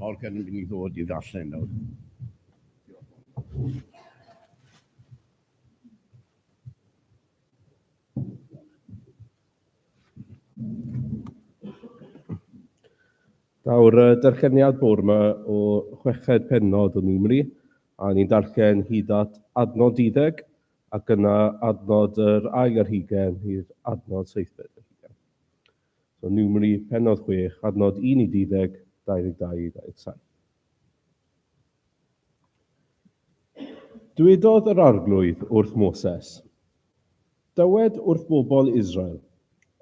Morgan yn mynd i ddod i ddarllen nawr. Daw'r uh, darlleniad bwr yma o chweched penod o Numri, a ni'n darllen hyd at adnod 12, ac yna adnod yr ail ar hugen i'r adnod seithfed. So Numeri, pennod 6, adnod 1 i 12, 22 i 27. Dwedodd yr Arglwydd wrth Moses, Dywed wrth bobl Israel,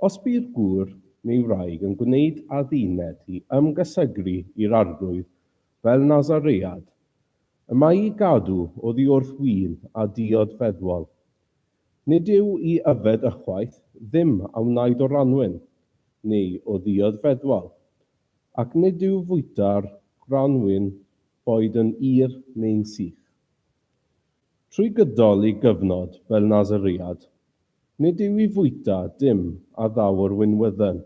Os by'r gŵr neu wraig yn gwneud adduned i ymgysegru i'r Arglwydd fel Nasaread, y mae i gadw oddi wrth win a diod feddwol, Nid yw i yfed ychwaith ddim a wnaed o ranwyn, neu o ddiod feddwal, ac nid yw fwyta'r granwyn boed yn ur neu'n sych. Trwy gydol ei gyfnod fel Nasaread, nid yw i fwyta dim a ddaw o'r winwydden,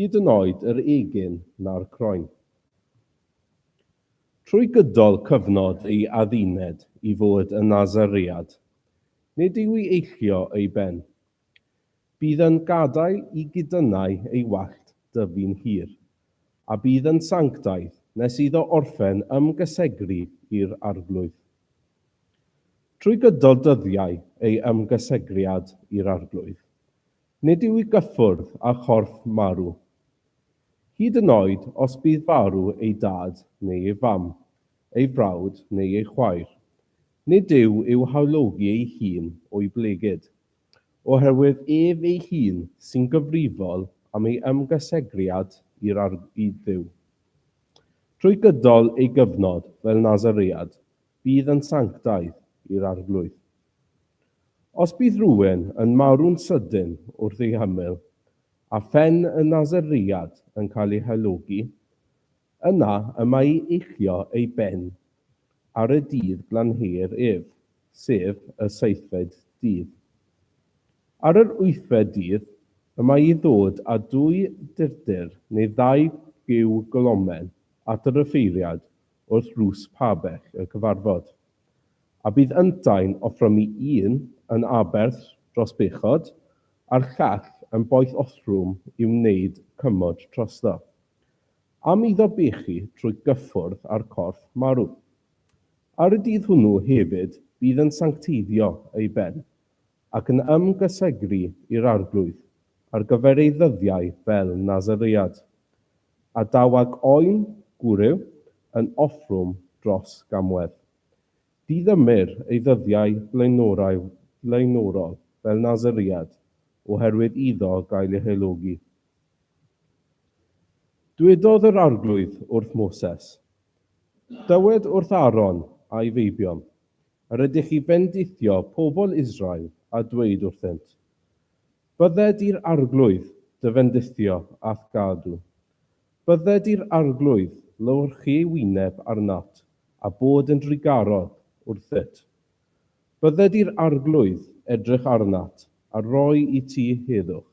hyd yn oed yr egin na'r croen. Trwy gydol cyfnod ei adduned i fod yn Nazaread, nid yw i eillio ei ben. Bydd yn gadael i gudynnau ei wallt dyfu'n hir, a bydd yn sanctaidd nes iddo orffen ymgysegru i'r Arglwydd. Trwy gydol dyddiau ei ymgysegriad i'r Arglwydd, nid yw i gyffwrdd â chorff marw, Hyd yn oed os bydd farw ei dad neu ei fam, ei frawd neu ei chwaer, nid yw i'w hawlogi ei hun o'i blegid, oherwydd ef ei hun sy'n gyfrifol am ei ymgysegriad i'r arglwydd, i Dduw. Trwy gydol ei gyfnod fel Nasaread bydd yn sanctaidd i'r arglwydd. Os bydd rhywun yn marw'n sydyn wrth ei hymyl, A phen y Naseread yn cael ei hylogi, yna y mae i eillio ei ben ar y dydd glanheuir ef, sef y seithfed dydd. Ar yr wythfed dydd y mae i ddod â dwy durdur neu ddau giw golomen at yr offeiriad wrth ddrws pabell y cyfarfod, a bydd yntau'n offromi un yn aberth dros bechod, a'r llall yn boeth othrwm i'w wneud cymod trosddo. Am iddo bechu trwy gyffwrdd â'r corff marw. Ar y dydd hwnnw hefyd bydd yn sancteiddio ei ben, ac yn ymgysegru i'r Arglwydd ar gyfer ei ddyddiau fel Nasaread, a daw ag oen gwryw yn othrwm dros gamwedd. Diddymir ei ddyddiau blaenorau blaenorol fel Nasiriad oherwydd iddo gael ei helogi. Dwedodd yr Arglwydd wrth Moses, Dywed wrth Aaron a'i feibion, Yr ydych chi fendithio pobl Israel a dweud wrthynt, Bydde di'r Arglwydd dy fendithio a'th gadw, Bydde di'r Arglwydd lywyrchu ei wyneb arnat, a bod yn drugarog wrthyt. Bydde di'r Arglwydd edrych arnat, a rhoi i ti heddwch.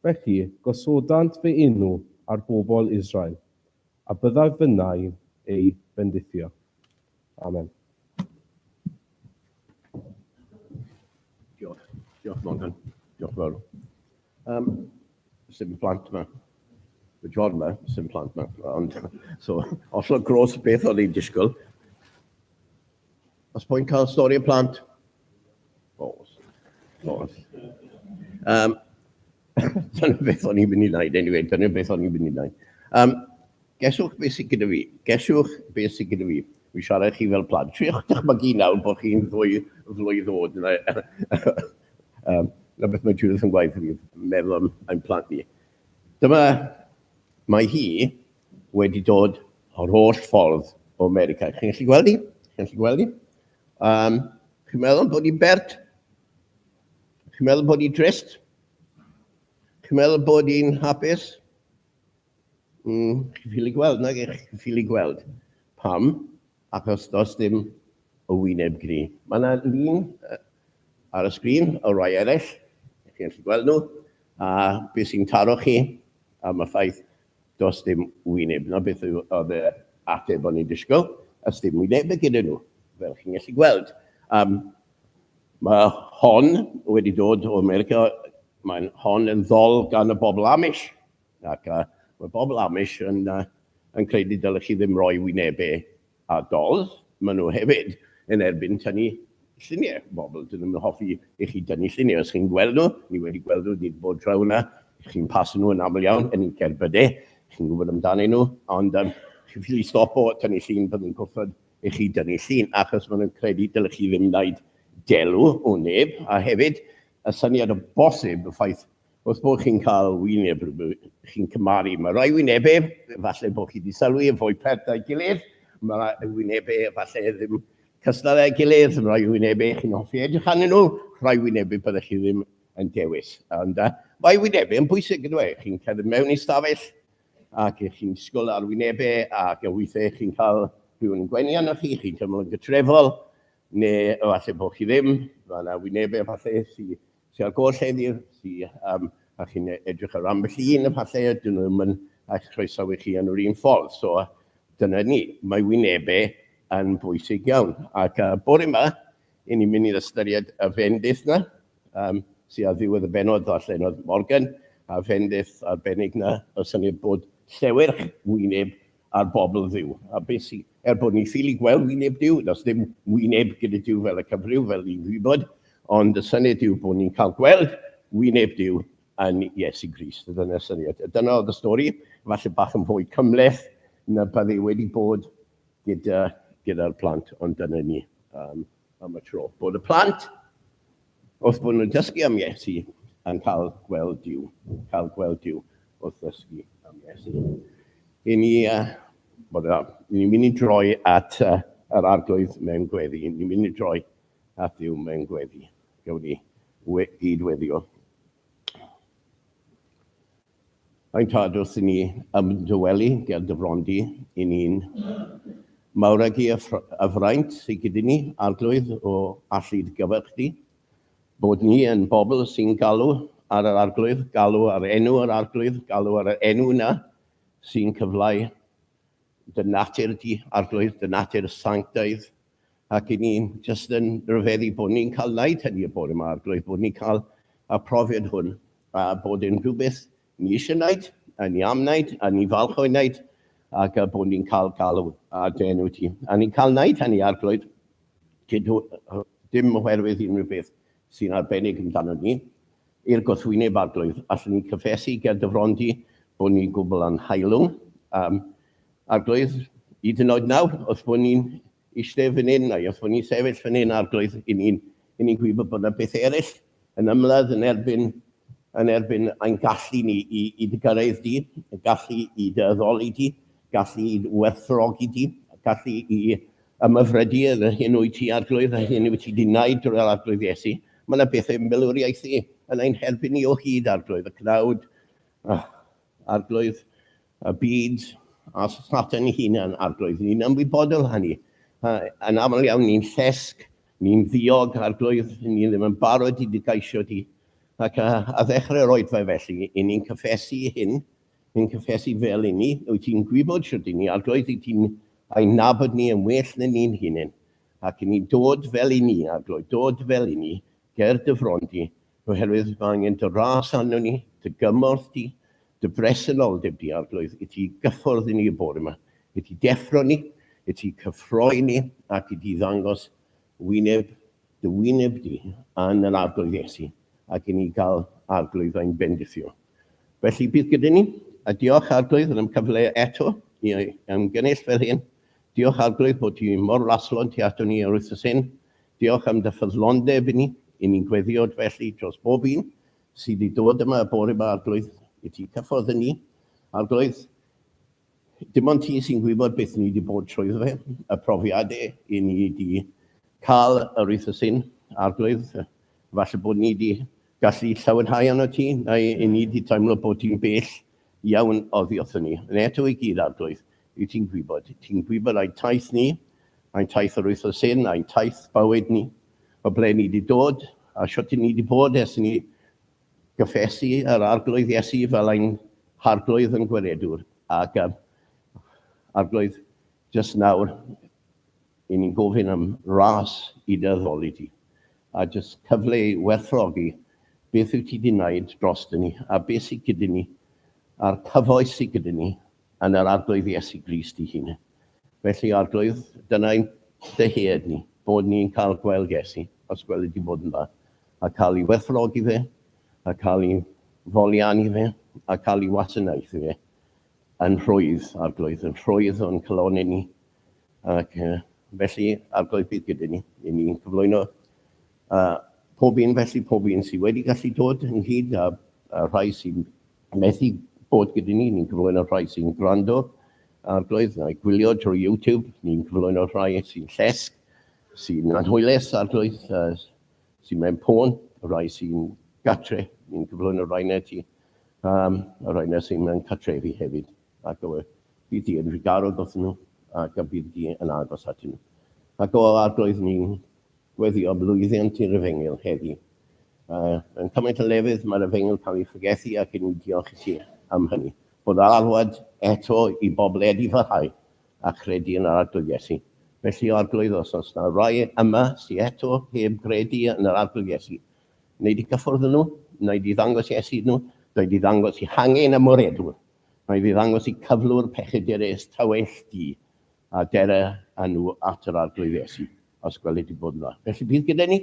Felly gosodant fy enw ar bobl Israel, a byddaf fynnau'n eu bendithio. Amen. Diolch. Diolch, Morgan. Diolch fawr. Um, sy'n plant yma. Y John yma, sy'n plant yma. Ond, so, os o'n gros beth o'n i'n disgwyl. Os po'n cael stori y plant, Nos. Nos. Um, dyna beth o'n i'n mynd i wneud, anyway, dyna beth o'n i'n mynd i wneud. Um, geswch beth sy'n gyda fi, geswch beth sy'n gyda fi. Mi siarad chi fel plant. Triwch dychmygu nawr bod chi'n ddwy flwydd ddod. um, na beth mae Judith yn gwaith fi, meddwl am ein plant ni. Dyma, mae hi wedi dod o'r holl ffordd o America. Chi'n gallu gweld hi? Chi'n gallu gweld hi? Um, chi'n meddwl bod hi'n bert? Chi'n meddwl bod hi'n trist? Chi'n meddwl bod hi'n hapus? Mm, chi'n ffili gweld, nag eich chi'n ffili gweld. Pam? Achos dos dim o wyneb gri. Mae yna lun ar y sgrin o rai eraill, chi'n gallu gweld nhw, a beth sy'n taro chi am y ffaith Does dim wyneb, 'na beth oedd yr ateb o'n i'n disgwyl, a sdim wynebau gyda nhw, fel chi'n gallu gweld. Um, mae hon wedi dod o America, mae'n hon yn ddol gan y bobl Amish, ac uh, mae bobl Amish yn, uh, yn credu dylech chi ddim roi wynebau A does, maen nhw hefyd yn erbyn tynnu lluniau bobl. Dyn nhw'm yn hoffi i chi dynnu lluniau. Os chi'n gweld nhw, ni wedi gweld nhw, ni 'di bod draw 'na, chi'n paso nhw yn aml iawn yn y cerbydau, chi'n gwybod amdanyn nhw, ond yym chi'n ffili stopo tynnu llun pan nhw'n gwrthod i chi dynnu llun, achos maen nhw'n credu dylech chi ddim wneud delw o neb, a hefyd y syniad o bosib y ffaith Os bod chi'n cael wyneb rhywbeth chi'n cymaru, mae rhai wynebau, falle bod chi wedi sylwi, yn fwy pert na'i gilydd, mae rhai wynebau falle ddim cystal â'i gilydd, mae rhai wynebau chi'n hoffi edrych arnyn nhw, rhai wynebau byddech chi ddim yn dewis. Ond uh, mae wynebau yn bwysig yn dweud, chi'n cerdded mewn i stafell ac chi'n sgol ar wynebau ac yn weithiau chi'n cael rhywun yn gwenu arnoch chi, chi'n teimlo'n gytrefol, neu efallai bod chi ddim, mae yna wynebau efallai sy'n sy ar goll heddi, sy, um, a chi'n e-, edrych ar ambell un efallai, a dyn nhw ddim yn eich croesawu chi yn yr un ffordd. So, dyna ni, mae wynebau yn bwysig iawn. Ac uh, bore yma, i ni'n mynd i'r ystyried y fendith na, um, sy'n ar ddiwedd y benod allan oedd Morgan, a fendith arbennig na, y syniad bod llewyrch wyneb ar bobl Dduw, a beth sy, er bod ni'n ffili gweld wyneb Duw, does dim wyneb gyda Duw fel y cyfryw, fel ni'n gwybod, ond y syniad yw bod ni'n cael gweld wyneb Duw yn Iesu Grist. Dyna'r syniad. Dyna oedd y stori, falle bach yn fwy cymleth na bydde wedi bod gyda'r gyda plant, ond dyna ni um, am y tro. Bod y plant Wrth bod nhw'n dysgu am Iesu a'n cael gweld Duw, cael gweld Duw wrth ddysgu am Iesu. I ni, uh, bod o, ni'n mynd i droi at uh, yr arglwydd mewn gweddi, ni'n mynd i droi at Duw mewn gweddi. Gawn ni we, gyd weddio. Mae'n rhad wrth i ni ymdywelu ger dy fron di, i ni'n mawregi y ffr- y fraint sy gyda ni, Arglwydd, o allu dy gyfer chdi, bod ni yn bobl sy'n galw ar yr Arglwydd, galw ar enw yr Arglwydd, galw ar yr enw yna sy'n cyfleu dy natur di, Arglwydd, dy natur sanctaidd, ac i ni'n jyst yn rhyfeddu bod ni'n cael wneud hynny y bore 'ma, a'r gloyw bod ni'n cael y profiad hwn, a bod e'n rhywbeth ni eisiau wneud, a ni am wneud, a ni'n falch o'i wneud, ac a bod ni'n cael galw a dy enw ti. A ni'n cael wneud hynny, a'r gloyw, dim oherwydd unrhyw beth sy'n arbennig amdano ni, I'r gwrthwyneb, Arglwydd, allwn ni gyffesu ger dy fron di bod ni'n gwbl anhaelwng, um, Arglwydd, hyd yn oed nawr, wrth bod ni'n eistedd fan hyn, neu wrth bod ni'n sefyll fan hyn, Arglwydd, i ni'n i ni gwybod bod yna beth eraill yn ymladd yn erbyn yn erbyn ein gallu ni i, i dy gyrraedd di, y gallu i dy addoli di, gallu i werthrogi di, gallu i Am y fredir, yr hyn wyt ti arglwydd, yr hyn wyt ti di wneud drwy yr Arglwydd Iesu. Mae yna bethau milwriaethu yn ein herbyn ni o hyd, Arglwydd y cnawd, uh, Arglwydd y byd, a Satan ei hunan, Arglwydd. Ni'n ymwybodol o hynny. Uh, yn aml iawn ni'n llesg, ni'n ddiog, Arglwydd, ni ddim yn barod i dy gaisio di. Ac uh, a ddechrau'r oedfa felly, i ni'n cyffesu hyn, Yn cyffesu fel i ni, wyt ti'n gwybod shwt i ni arglwydd, wyt ti'n ein nabod ni yn well na ni'n hunain, ac i ni dod fel i ni, arglwydd, dod fel i ni, ger dy fron di, oherwydd mae angen dy ras arno ni, dy gymorth di, dy bresenoldeb di, arglwydd, i ti gyffwrdd i ni y bore yma, i ti deffro ni, i ti cyffroi ni, ac i ti ddangos Wyneb dy wyneb di, yn yr Arglwydd Iesu, ac i ni gael Arglwydd ein bendithio. Felly, bydd gyda ni, a diolch Arglwydd yn ymcyfle eto i ymgynnull fel hyn. Diolch Arglwydd bod ti mor laslon tu ato ni yr wythnos hyn. Diolch am dy ffyddlondeb i ni, i ni'n gweddiod felly dros bob un sydd i ddod yma y bore yma Arglwydd, i ti cyffordd yn ni, Arglwydd. Dim ond ti sy'n gwybod beth ni 'di bod trwyddo fe, y profiad e, i ni 'di cael yr wythnos hyn, Arglwydd. Falle bod ni 'di gallu llawenhau arno ti, neu i ni 'di teimlo bod ti'n bell iawn oddi wrthon ni. Yn eto i gyd, Arglwydd, wyt ti'n gwybod. Ti'n gwybod ein taith ni, ein taith yr wythnos hyn, ein taith bywyd ni, o ble ni 'di dod, a shwt i ni 'di bod ers i ni Cyffes i yr Arglwydd Iesu fel ein Harglwydd yn Gwiredwr, ac um, Arglwydd, jyst nawr, i ni'n gofyn am ras i dy addoli di, a jyst cyfle i werthrogi beth wyt ti di wneud dros dyn ni, a beth sydd gyda ni, a'r cyfoes sydd gyda ni, yn yr Arglwydd Iesu Grist ei hun. Felly, Arglwydd, dyna ein dyhead ni, bod ni'n cael gweld Iesu, os gweli di bod yn dda, a cael ei werthfawrogi fe, a cael ei folianu fe, a cael ei wasanaethu fe yn rhwydd, Arglwydd, yn rhwydd o'n calonau ni. Ac felly, Arglwydd, bydd gyda ni, i ni'n cyflwyno A pob un felly, pob un sydd wedi gallu dod ynghyd a, a rhai sy'n methu bod gyda ni, ni'n cyflwyno rhai sy'n gwrando arglwydd neu gwylio drwy YouTube, ni'n cyflwyno rhai sy'n llesg, sy'n anhwylus arglwydd, uh, sy'n mewn pôn, rhai sy'n gatre, ni'n cyflwyno rhai na ti, um, a rhai na sy'n mewn catrefi hefyd. Ac o, bydd di yn rhigarod wrth nhw, ac a bydd di yn agos at nhw. Ac o arglwydd ni'n Gweddïo blwyddiant i'r Efengyl heddi. Mae yn cymaint o lefydd mae'r Efengyl cael ei phregethu ac yn i diolch i ti am hynny. Bod yr alwad eto i bobl edifyhau a chredu yn yr Arglwydd Iesu. Felly o Arglwydd os oes na rai yma sy eto heb gredu yn yr Arglwydd Iesu, wnei di gyffwrdd â nhw, wnei di ddangos Iesu iddyn nhw, wnei di ddangos i hangen ymoredwr, wnei di ddangos i cyflwr pechydurus tawell di a dere â nhw at yr Arglwydd Iesu. os gweli di bod yna. Felly bydd gyda ni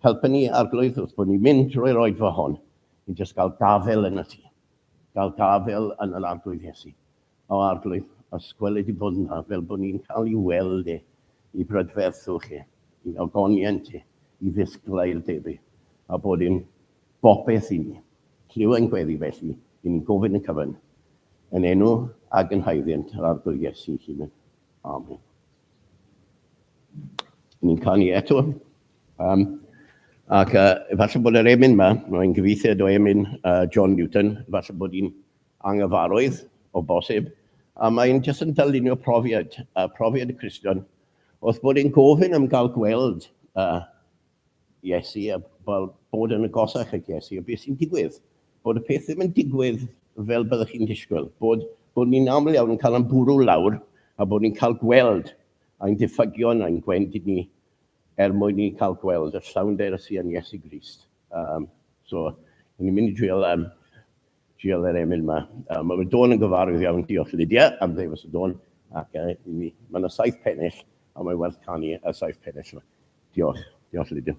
helpu ni arglwydd wrth bod ni'n mynd drwy'r oedfa hon i jyst gael gafel yn y ti. Gael gafel yn yr arglwydd Iesu. O arglwydd, os gweli di bod yna fel bod ni'n cael i weld e, i brydferthu chi, i ogoniant ti, i ddisgla i'r debu, a bod yn bopeth i ni. Lliw ein gweddi felly, i ni'n gofyn y cyfan, yn enw ag yn haeddiant yr arglwydd Iesu hunan. Amen. Ni'n canu eto. Um, ac uh, efallai bod yr emyn yma, mae'n gyfeithiad o emyn uh, John Newton, efallai bod hi'n angyfarwydd o bosib, a mae'n jyst yn dylunio profiad, uh, profiad y Cristion, wrth bod yn gofyn am gael gweld uh, Iesu, a wel, bod yn agosach at Iesu, a beth sy'n digwydd? Bod y peth ddim yn digwydd fel byddwch chi'n disgwyl, bod, bod ni'n aml iawn yn cael ein bwrw lawr, a bod ni'n cael gweld ein diffygion a'n gwendid ni, er mwyn ni'n cael gweld y llawnder sy'n Iesu Grist. Um, so, ni'n mynd i drio um, Diolch i'r emyn yma. Mae fy dôn yn gyfarwydd iawn. Diolch Lydia am ddewis y dôn ac i mi. Mae yna saith pennill a mae werth canu y saith pennill yma. Diolch. Diolch Lydia.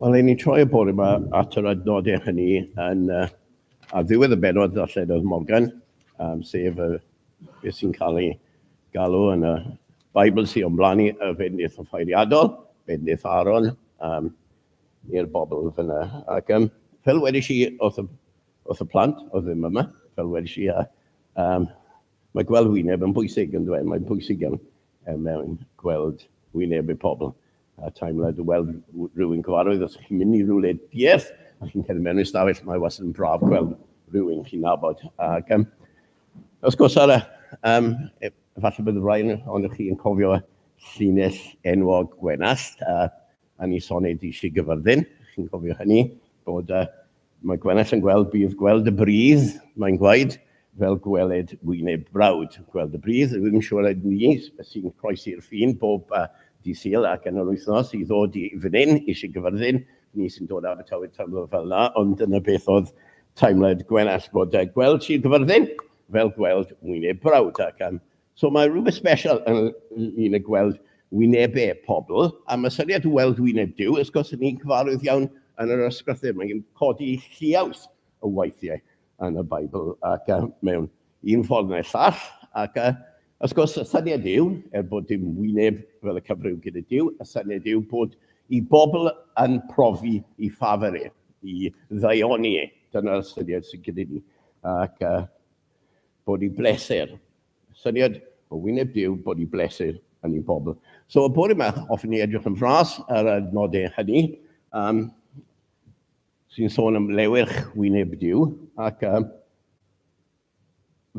Wel, ein ni'n troi y bore yma at yr adnodau hynny yn uh, ar ddiwedd y benod ddarlledodd Morgan, um, sef uh, beth sy'n cael ei galw yn y Bible sy'n ymblanu y fednydd o ffeiriadol, fednydd Aaron, um, i'r bobl fyna. Ac um, fel wedys i wrth y, wrth y plant, o ddim yma, fel wedys i, uh, um, mae gweld wyneb yn bwysig yn dweud, mae'n bwysig iawn. er mwyn gweld wynebau pobl a teimlad o weld rhywun cyfarwydd. Os chi'n mynd i rhywle diarth a chi'n cerdded mewn i'r stafell, mae wastad yn braf gweld rhywun chi'n nabod. Ac um, os gwrs ar y, um, e, falle bydd rhain ond chi yn cofio llinell enwog Gwenallt a yn ei son ei Dŷ Gyfyrddin, chi'n cofio hynny, bod uh, mae Gwenell yn gweld, bydd gweld y bridd, mae'n gwaed, fel gweled gwyneb brawd. Gweld y bridd, rwy'n siŵr ag ni sy'n croesi'r ffin bob uh, di syl ac yn yr wythnos i ddod i fan hyn, eisiau gyfyrddin, ni sy'n dod ar y tywydd tymor fel yna, ond dyna beth oedd teimlad Gwenell bod uh, gweld Sir Gyfyrddin fel gweld wyneb brawd ac am So mae rhywbeth special yn ni'n y gweld wynebau pobl, a mae syniad o weld wyneb Duw, wrth gwrs, yn ni'n cyfarwydd iawn yn yr ysgrythur. Mae'n codi lliaws o weithiau yn y Beibl ac uh, mewn un ffordd neu'r llall. Ac uh, wrth gwrs, y syniad yw, er bod dim wyneb fel y cyfryw gyda Duw, y syniad yw bod i bobl yn profi i ffafer e, i ddaioni e. Dyna'r syniad sy'n gyda ni. Ac uh, body blesser. Syniad o wyneb Duw, body blesser yn ein pobl. So, y bore yma, hoffwn ni edrych yn fras ar y nodau hynny, um, sy'n sôn am lewyrch wyneb Duw, ac um,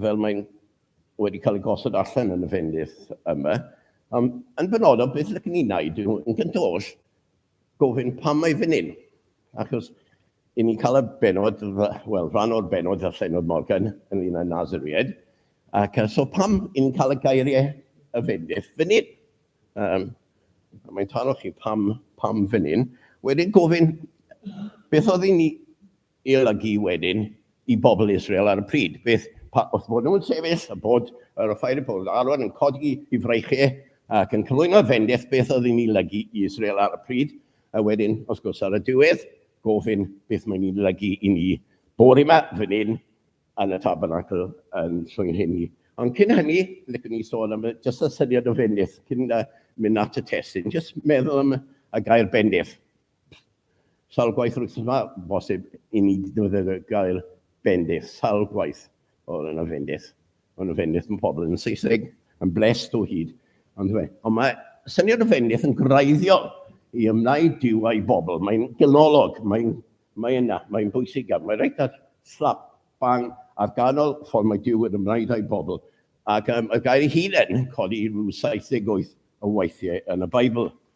fel mae'n wedi cael ei gosod allan yn y fendydd yma, um, yn benodol, beth ydych ni'n neud yn gyntaf oll, gofyn pam mae fan hyn, achos i ni'n cael y benod, wel, rhan o'r benod a Llenor Morgan yn un o'r Nazariaid, ac so pam i ni'n cael y gairiau y fendith fan hyn? Um, mae'n taro chi pam, pam fan hyn. Wedyn gofyn, beth oedd i ni ei olygu wedyn i bobl Israel ar y pryd. Beth, pa, wrth bod nhw'n sefyll a bod yr offair y pobl arwain yn codi i fraichau ac yn cyflwyno fendith, beth oedd yn ei lygu i Israel ar y pryd, a wedyn, wrth gwrs, ar y diwedd, gofyn beth mae'n ei lygu i ni bore yma, fan hyn, yn y tabernacl yn llwy'n hyn ni. Ond cyn hynny, licen ni sôn am jyst y syniad o fendith, cyn uh, mynd at y testyn, jyst meddwl am y gair bendith. Sawl gwaith yr wythnos 'ma, bosib i mi ddefnyddio gair bendith, sawl gwaith oedd yna fendith. Oedd yna fendith yn pobl yn Saesneg, yn blessed o hyd. Ond fe, ond mae syniad o fendith yn greiddiol i ymwneud i Dyw a'i bobl. Mae'n ganolog, mae'n mae yna, mae'n bwysig iawn. Mae reit ar slap bang ar ganol ffordd mae Dyw yn ymwneud â'i bobl. Ac um, y gair ei hun yn codi rhyw 78 o weithiau yn y Beibl.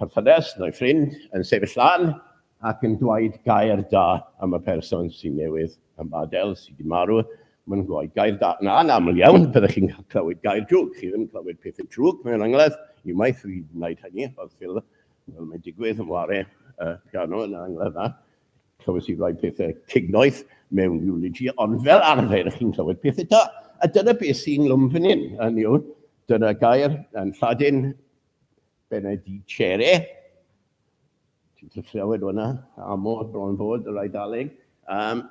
perthynas neu ffrind yn sefyll lan ac yn dweud gair da am y person sy'n newydd yn badel, sydd wedi marw, mae'n dweud gair da. Na, yn aml iawn, byddech chi'n clywed gair drwg. Chi ddim yn clywed pethau trwg mewn angladd. Unwaith fi wedi gwneud hynny, oedd ffil, fel mae'n digwydd, yn ware y piano yn yr angladd yna. Clywys i rai pethau cignoeth mewn eulogy, ond fel arfer chi'n clywed pethau da. A dyna beth sy'n lwm fan hyn, hynny yw, dyna gair yn Lladin, Benedicere, ti'n cyllawed o'na, amod bron fod yr Eidaleg, um,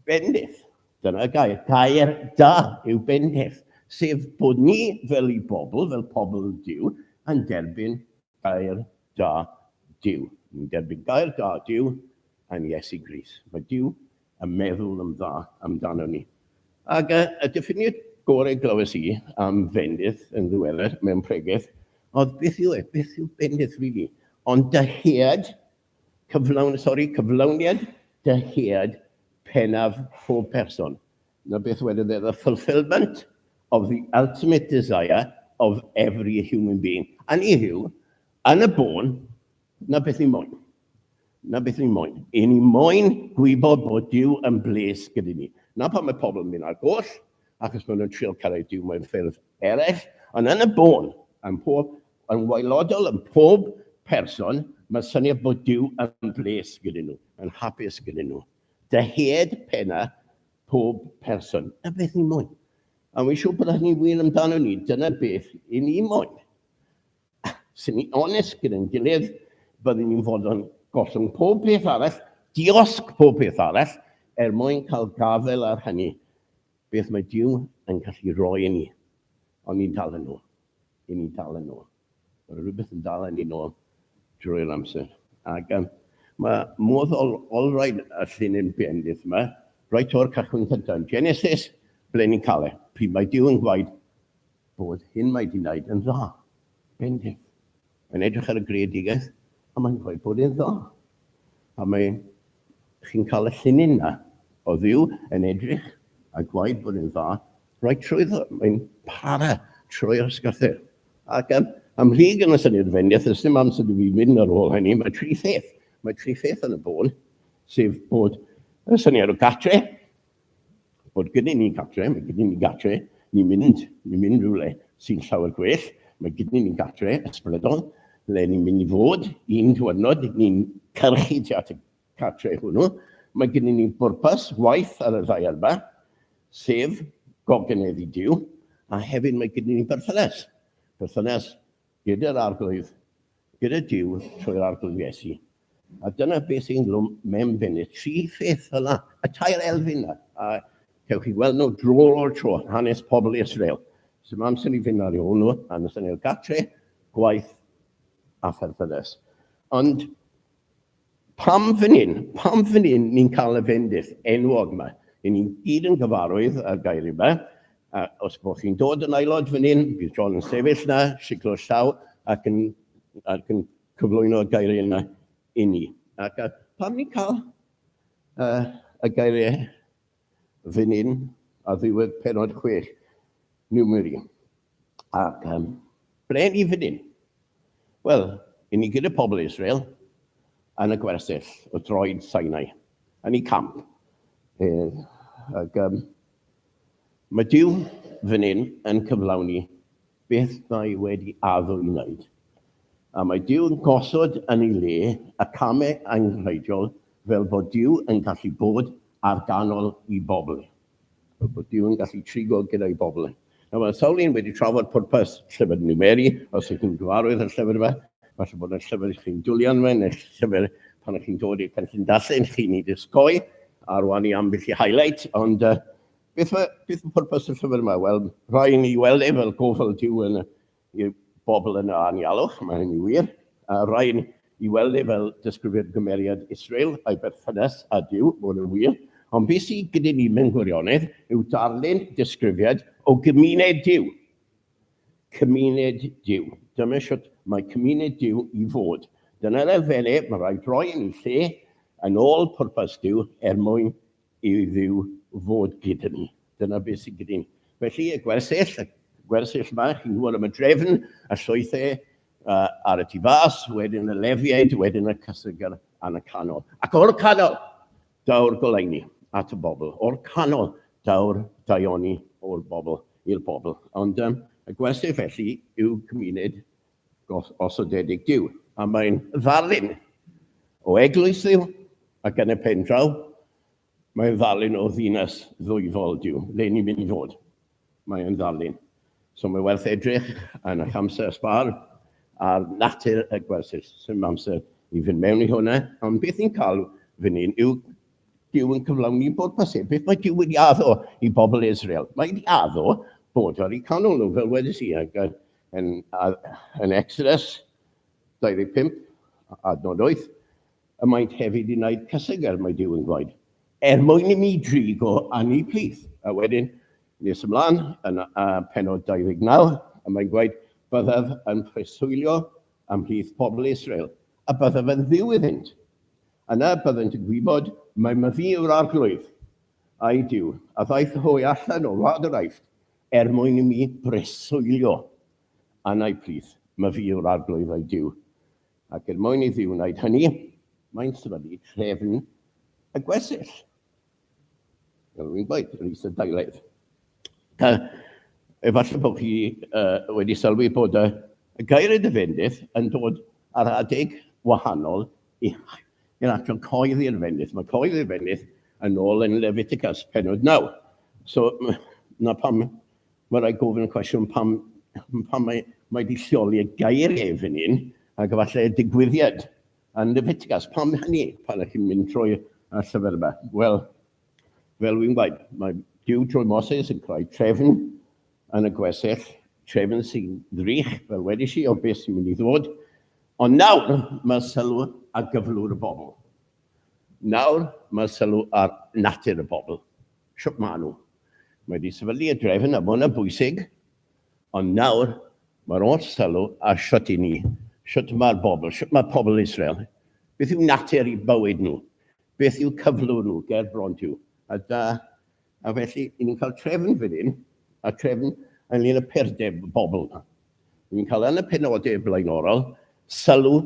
bendith, dyna gair, gair da yw bendith, sef bod ni fel i bobl, fel pobl Dyw, yn derbyn gair da Dyw. Ni'n derbyn gair da Dyw yn Iesu Gris. Mae Dyw a meddwl yn dda amdanon ni. Ac y diffiniad gorau glywes i am fendith yn ddiweddar mewn pregeth oedd beth yw e, beth yw bendith rili? Ond dyhead, cyflawn, sori, cyflawniad dyhead pennaf pob person. Na beth wedodd e, the fulfilment of the ultimate desire of every human being. A ni yw, yn y bôn, Na beth ni moyn. Na beth ni moyn. I ni moyn gwybod bod Dyw yn bles gyda ni. Na pan mae pobl yn mynd ar goll, achos maen nhw'n trio cyrraedd Dyw mewn ffyrdd eraill, ond yn y bôn, yn pob, yn waelodol, yn pob person, mae'n syniad bod Dyw yn bles gyda nhw, yn hapus gyda nhw. Dyhead penna pob person. Na beth ni moyn. A wi'n siŵr bod hynny wir amdano ni. Dyna beth i ni moyn. sy'n ni onest gyda'n gilydd, byddwn ni'n fod yn gollwng pob peth arall, diosg pob peth arall, er mwyn cael gafael ar hynny, beth mae Dyw yn gallu rhoi i ni. Ond ni'n dal yn ôl. I ni'n dal yn ôl. Mae rhywbeth yn dal yn ni'n ôl drwy'r amser. Ac um, mae modd ol, olrhaid y llun yn bendith yma, roi to'r cychwyn cyntaf yn Genesis, ble ni'n cael e. Pryd mae Dyw yn gwaed, bod hyn mae di wneud yn dda. Bendith. Mae'n edrych ar y greadigaeth a mae'n dweud bod e'n dda. A mae chi'n cael y llinyn na o ddiw yn edrych a gwaed bod e'n dda. Rhaid trwyddo, mae'n para trwy'r ysgarthyr. Ac am, am rhig yn y syniad fendith, ys dim amser i fi mynd ar ôl hynny, mae tri pheth, mae tri pheth yn y bôn, sef bod y syniad o gatre, Bod gyda ni gartre, mae gyda ni gartre, ni'n mynd, ni'n mynd rhywle sy'n llawer gwell, mae gyda ni'n gartre ysbrydol, le ni'n mynd i fod un diwrnod, ni'n cyrchu tu at y cartre hwnnw, mae gyda ni bwrpas waith ar y ddaear yma, sef gogeneddu Duw, a hefyd mae gyda ni berthynas, berthynas gyda'r arglwydd, gyda Duw trwy'r Arglwydd Iesu. A dyna beth sy'n glwm mewn bennett, tri pheth fel yna, y tair elfyn yna, a cewch chi weld nhw dro o'r tro, hanes pobl Israel. Sy'n mam sy'n ei fynd ar ei ôl nhw, a nes yn ei gatre, gwaith a pherthynas. Ond Pam fan hyn? Pam fan hyn ni'n cael y fendith enwog yma? Ry'n ni'n gyd yn gyfarwydd â'r gair yma, a os bod chi'n dod yn aelod fan hyn, bydd John yn sefyll na, siglo llaw ac yn, ac yn cyflwyno'r gair yna i ni. Ac a, pam ni'n cael uh, y gairiau Fy Nun ar ddiwedd pennod chwech Newmiri. Ac um, ble ni fy Nun? Wel, i ni gyda pobl Israel yn y gwersyll o droed Sinai, yn ei camp. E, ac um, mae Dyw fy Nun yn cyflawni beth mae wedi addo i wneud, a mae Duw yn gosod yn ei le y camau angenrheidiol fel bod Duw yn gallu bod ar ganol i bobl. Fel bod Duw yn gallu trigo gyda'i bobl. Nawr mae sawl un wedi trafod pwrpas llyfr Numeri, os ych chi'n gyfarwydd â'r llyfr yma, falle bod yna llyfr i chi'n dwli arno fe, neu'r llyfr pan ych chi'n dod i'r cynllun darllen chi'n ei dysgoi, a rwan i ambell i highlight, ond uh, Beth mae, beth mae pwrpas y llyfr yma? Wel, rhoi ni weld e fel gofal diw yn y bobl yn y anialwch, mae hynny wir. A rhoi ni i weld e fel disgrifio'r gymeriad Israel a'i berthynas a diw, mae hwnna'n wir. Ond beth sydd gyda ni mewn gwirionedd yw darllen disgrifiad o gymuned diw. Cymuned diw. Dyma siwt mae cymuned diw i fod. Dyna'r elfenau mae rhaid rhoi yn ei lle yn ôl pwrpas diw er mwyn i Dduw fod gyda ni. Dyna beth sydd gyda ni. Felly, y gwersyll, y gwersyll yma, chi'n gwybod am y drefn, y llwythau uh, ar y tu fas, wedyn y lefiaid, wedyn y cysygar yn y canol. Ac o'r canol, daw'r goleini at y bobl. O'r canol, daw'r daioni o'r bobl i'r bobl. Ond um, y gwersyll felly yw cymuned gosodedig Duw. A mae'n ddarlun o eglwys Dduw, ac yn y pen draw, mae'n ddarlun o ddinas ddwyfol Duw, le ni'n mynd i fod. Mae yn ddarlun. So mae werth edrych yn eich amser sbar ar natur y gwersyll. Sym amser i fynd mewn i hwnna, ond beth ni'n cael fy ni'n yw Dyw yn cyflawni bod pasib. Beth mae Dyw wedi addo i bobl Israel? Mae wedi addo bod ar eu canol nhw, fel wedi si, ac Yn, yn Exodus 25, adnod 8, y maent hefyd yn wneud cyseger, mae Dyw yn gwaed, er mwyn i mi drig o anni plith. A wedyn, nes ymlaen, yn uh, penod 29, y mae'n gwaed, byddaf yn preswylio ymhlith pobl Israel, a byddaf yn ddiw iddynt. Yna byddant yn gwybod mae myfi yw'r arglwydd, a'i diw, a ddaeth hwy allan o wlad yr aifft, Er mwyn i mi breswylio anau plith, my fi yw'r Arglwydd a'i Duw, ac er mwyn i fi wneud hynny, mae'n sefydlu trefn y gwersyll. Fel rwy'n gweud, yr isadeiledd. Ta, efallai bod chi uh, wedi sylwi bod y, y gair y defendydd yn dod ar adeg wahanol i Yn atal coedd i'r fenith. Mae coedd i'r fenith yn ôl yn Leviticus, penod 9. So, na pam mae rhaid gofyn y cwestiwn pam, pam mae, mae wedi lleoli y geiriau fan hyn, ac efallai y digwyddiad yn Leviticus. Pam hynny pan ydych chi'n mynd trwy y llyfr yma? Wel, fel wy'n gwaed, mae Dyw trwy Moses yn creu trefn yn y gwesell trefn sy'n ddrych, fel wedys i, o beth sy'n mynd i ddod. Ond nawr mae sylw ar gyflwr y bobl. Nawr mae sylw ar natur y bobl. Siwp maen nhw. Mae wedi sefydlu y drefn a bod yn bwysig, ond nawr mae'r oll sylw ar siwt i ni, siwt mae'r bobl, siwt mae pobl Israel. Beth yw natur i bywyd nhw? Beth yw cyflwr nhw, ger bron diw? A da, A felly, i ni'n cael trefn fan hyn, a trefn ynglyn y perdeb y bobl yna. I ni'n cael yn y penodau blaenorol sylw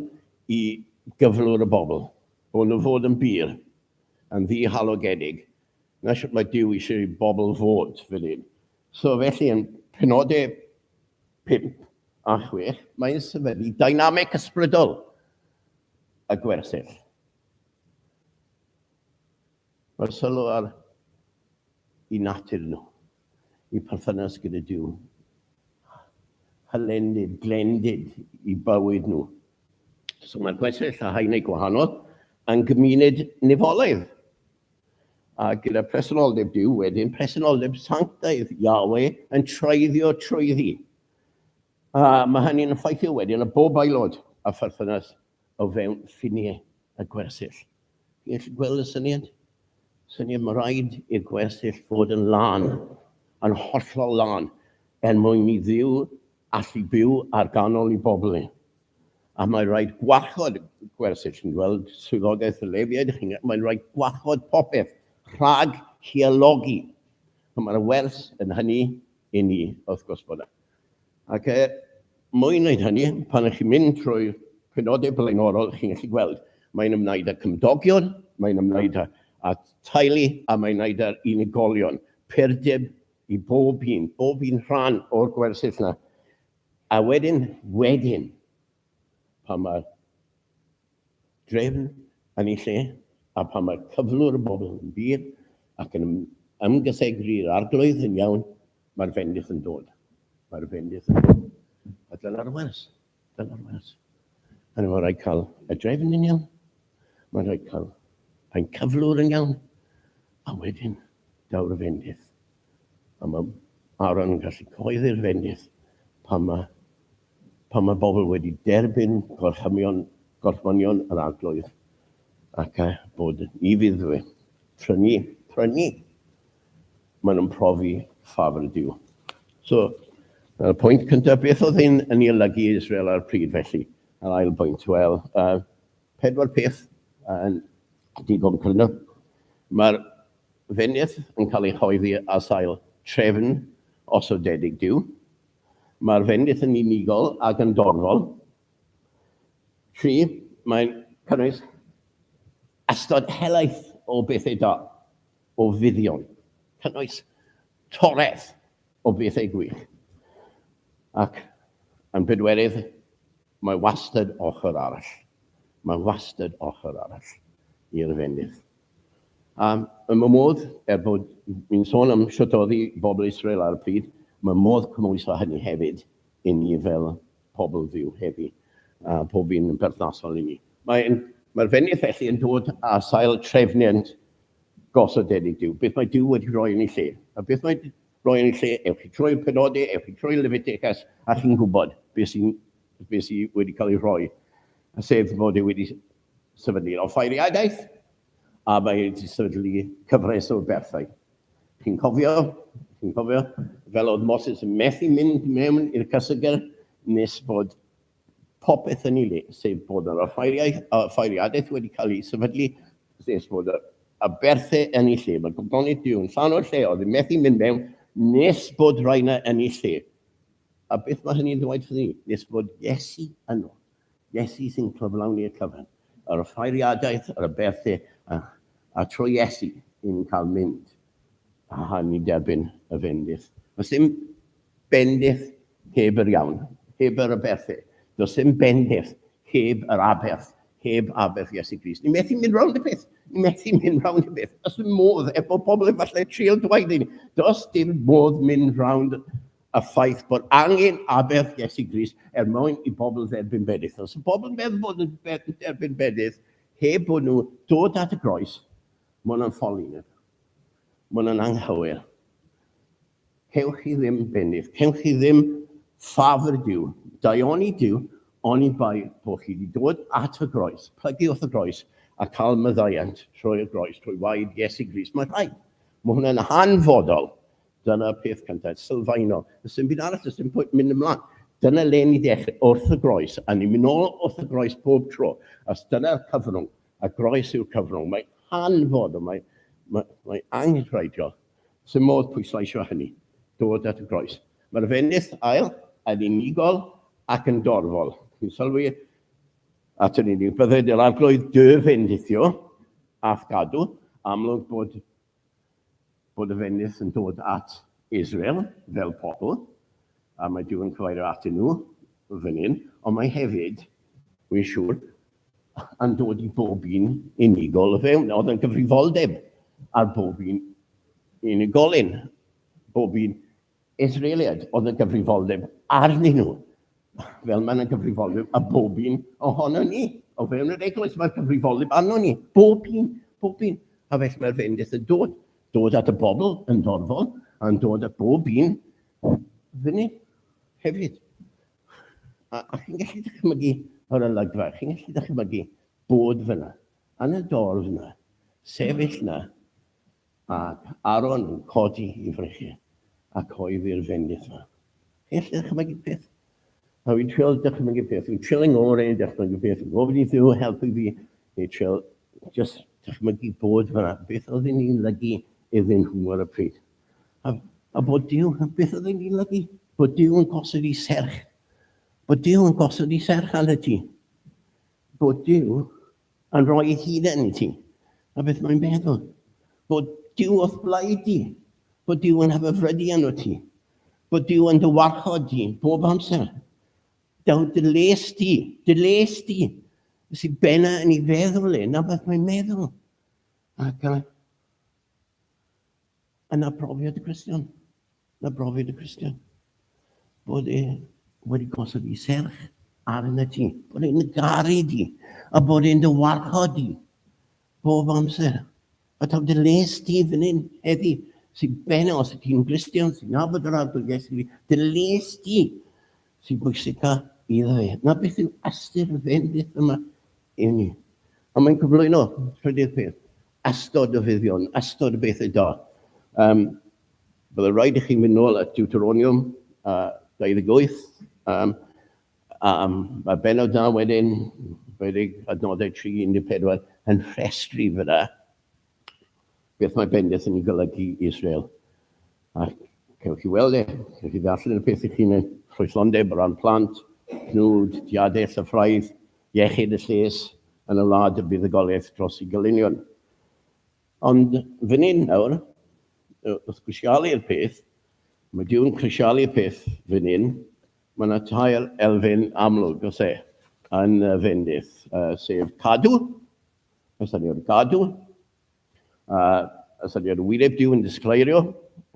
i gyflwr y bobl, bod nhw fod yn bur, yn ddihalogedig, na sut mae Dyw eisiau i bobl fod fan hyn. So felly, yn penodau 5 a 6, mae'n sefydlu dynamic ysbrydol y gwersyll. Mae'r sylw ar eu natur nhw, eu perthynas gyda Duw, hylendid, glendid i bywyd nhw. So mae'r gwestyll a haenau gwahanol yn gymuned nifolaidd. A gyda presenoldeb Duw wedyn, presenoldeb sanctaidd Yahweh yn treiddio trwyddi. A mae hynny'n effeithio wedyn y bob aelod a pherthynas o fewn ffiniau y gwersyll. Chi'n gweld y syniad? Syniad mae rhaid i'r gwersyll fod yn lân, yn hollol lân, er mwyn i Dduw allu byw ar ganol i bobl e. A mae'n rhaid gwarchod gwersyll, chi'n gweld swyddogaeth y Lefiaid, mae'n rhaid gwarchod popeth rhag hielogi. Mae'r wers yn hynny i ni, wrth gwrs bod yna. Ac er mwyn wneud hynny, pan ych chi'n mynd trwy'r penodau blaenorol, chi'n gallu gweld, mae'n ymwneud â cymdogion, mae'n ymwneud â, â teulu, a mae'n ymwneud â'r unigolion. Perdeb i bob un, bob un rhan o'r gwersyll yna. A wedyn, wedyn, pan mae'r drefn yn ei lle, a phan mae cyflwr y bobl yn ddur ac yn ymgythegri'r Arglwydd yn iawn, mae'r fendith yn dod. Mae'r fendith yn dod. A dyna'r wers. Dyna'r wers. Hynny mae'n rhaid cael y drefn yn iawn. Mae'n rhaid cael ein cyflwr yn iawn. A wedyn, daw'r fendith. A mae Aaron yn gallu coeddi'r fendith pan mae pan mae pobl wedi derbyn gorchymio'n gorchmynion yr Arglwydd, ac a bod ni fydd fe, prynu, prynu, maen nhw'n profi ffafr y Dyw. So, y pwynt cyntaf, beth oedd hyn yn ei olygu i Israel ar y pryd felly? Yr ail bwynt, wel, uh, pedwar peth yn uh, digon cryno. Mae'r fenydd yn cael ei choeddi ar sail trefn osodedig Dyw, Mae'r fendith yn unigol ac yn dorfol. Tri, mae'n cynnwys ystod helaeth o bethau da, o fuddion, cynnwys toreth o bethau gwych. Ac yn bedwerydd, mae wastad ochr arall. Mae wastad ochr arall i'r fendith. A ym y modd, er bod ni'n sôn am shwt oedd i bobl Israel ar y pryd, mae modd cymhwyso hynny hefyd i ni fel pobl Dduw heddi, a pob un yn berthnasol i ni. Mae'n, mae'r fenyw felly yn dod â sail trefniant gosodedig Duw, beth mae Duw wedi rhoi yn ei lle. A beth mae rhoi yn ei lle, ewch chi trwy'r penodau, ewch chi trwy Leviticus, a chi'n gwybod beth sy'n beth sydd wedi cael ei rhoi, sef fod e wedi sefydlu offeiriadaeth, a mae wedi sefydlu cyfres o berthau. Chi'n cofio, chi'n cofio, fel oedd Moses yn methu mynd mewn i'r casegr nes bod popeth yn ei le, sef bod yr offeiriadaeth wedi cael ei sefydlu, nes bod y, y berthau yn ei lle. Mae Gobdonydd Duw yn llan o'r lle, oedd yn methu mynd mewn nes bod rhaina yn ei lle. A beth mae hynny'n ddweud wrthyn ni? Nes bod Iesu yno. Iesu sy'n cyflawni'r cyfan. Yr offeiriadaeth, yr aberthu, a, a trwy Iesu, ni'n cael mynd a hân i derbyn y bendith. Does dim bendith heb yr iawn, heb yr aberthu. Does dim bendith heb yr aberth, heb aberth Iesu Grist. Ni'n methu mynd rownd y peth. Ni'n methu mynd rownd y peth. Does dim modd, efo pobl efallai trial dweud i ni, does dim modd mynd rownd y ffaith bod angen aberth Iesu Grist er mwyn i bobl dderbyn bedydd. Os y bobl yn meddwl bod nhw'n derbyn bedydd heb bod nhw dod at y groes, mae hwnna'n ffoli nhw. Mae hwnna'n anghywir. Cewch chi ddim benydd, cewch chi ddim ffafr Dyw, daioni Dyw, oni bai bod chi wedi dod at y groes, plygu wrth y groes, a cael myddaiant trwy'r groes, trwy waed Iesu Grist. Mae rhaid. Mae hwnna'n hanfodol Dyna'r peth cyntaf, sylfaenol. Does dim byd arall, does dim pwynt mynd ymlaen. Dyna le ni ddechrau, wrth y groes, a ni'n mynd nôl wrth y groes pob tro, os dyna'r cyfrwng, a groes yw'r cyfrwng. Mae'n hanfod, ond mae'n mae, mae angenrheidiol. Sy'n modd pwysleisio hynny, dod at y groes. Mae'r fenyth ail yn unigol ac yn dorfol. Chi'n sylwi at yr unig, bydded yr arglwydd dy fendithio, ath gadw, amlwg bod bod y fenyw yn dod at Israel fel pobl, a mae Duw yn cyfeirio atyn nhw fan hyn, ond mae hefyd, wi'n siŵr, yn dod i bob un unigol o fewn. Oedd yn gyfrifoldeb ar bob un unigolyn, bob un Israeliaid oedd y gyfrifoldeb arnyn nhw, fel mae'n y gyfrifoldeb a bob un ohono ni. O fewn yr eglwys mae'r cyfrifoldeb arno ni, bob un, bob un. A felly mae'r fendith yn dod, dod at y bobl yn dorfol, a'n dod at bob un fyny hefyd. A, a chi'n gallu dychmygu o'r olygfa, chi'n gallu dychmygu bod fyna, yn y dorf yna, sefyll yna, Ac Aaron yn codi i frechu ac oeddi'r fendith yma. Chi allu dychmygu peth? A fi'n trial dychmygu peth, fi'n trial yng ngore i dychmygu peth, fi'n gofyn i ddiw helpu fi, fi'n trial just dychmygu bod fyna, beth oedd yn i'n lygu iddyn nhw ar y pryd. A, a bod Dyw, beth oedd yn i'n lygu? Bod Dyw yn gosod i serch. Bod Dyw yn gosod i serch arnat ti. Bod Dyw Yn rhoi ei hunain i ti, a beth mae'n meddwl? Bod Dyw o'th blaid di, bod Dyw yn hyfyfrydu arno ti, bod Dyw yn dy warchod di bob amser. Daw dy les di, dy les di, sy'n benna yn ei feddwl e, na beth mae'n meddwl. Ac uh, Yna brofiad y Cristion, yna brofiad y Cristion, bod e wedi gosod i serch ar yna ti, bod e'n garu di, a bod e'n dy warchod di, bob amser. A taw dy les ti fan hyn heddi, sy'n ben os y ti'n Gristion, sy'n nabod yr adl Iesu fi, dy les ti sy'n bwysica i dda fe. Na beth yw astu'r fendith yma i ni. A mae'n cyflwyno, trydydd peth, Ystod o fuddion, ystod o bethau da. Um, byddai rhaid i chi mynd nôl at Deuteronium uh, 28, um, um, mae benod da wedyn, 20 adnodau 3-14, yn rhestru fyna beth mae bendith yn ei golygu i Israel. A cewch chi weld e, cewch chi ddarllen y peth i chi'n ffrwythlondeb o ran plant, cnwd, diadell a ffraidd, Iechyd y lles yn y wlad y buddugoliaeth dros ei gylunion. Ond fan hyn nawr, wrth grisialu'r peth, mae Duw'n crisialu'r peth fan hyn, mae yna tair elfen amlwg, os e, yn y fendith, sef cadw, os da ni o'r gadw, A ystyried wyneb Duw yn disgleirio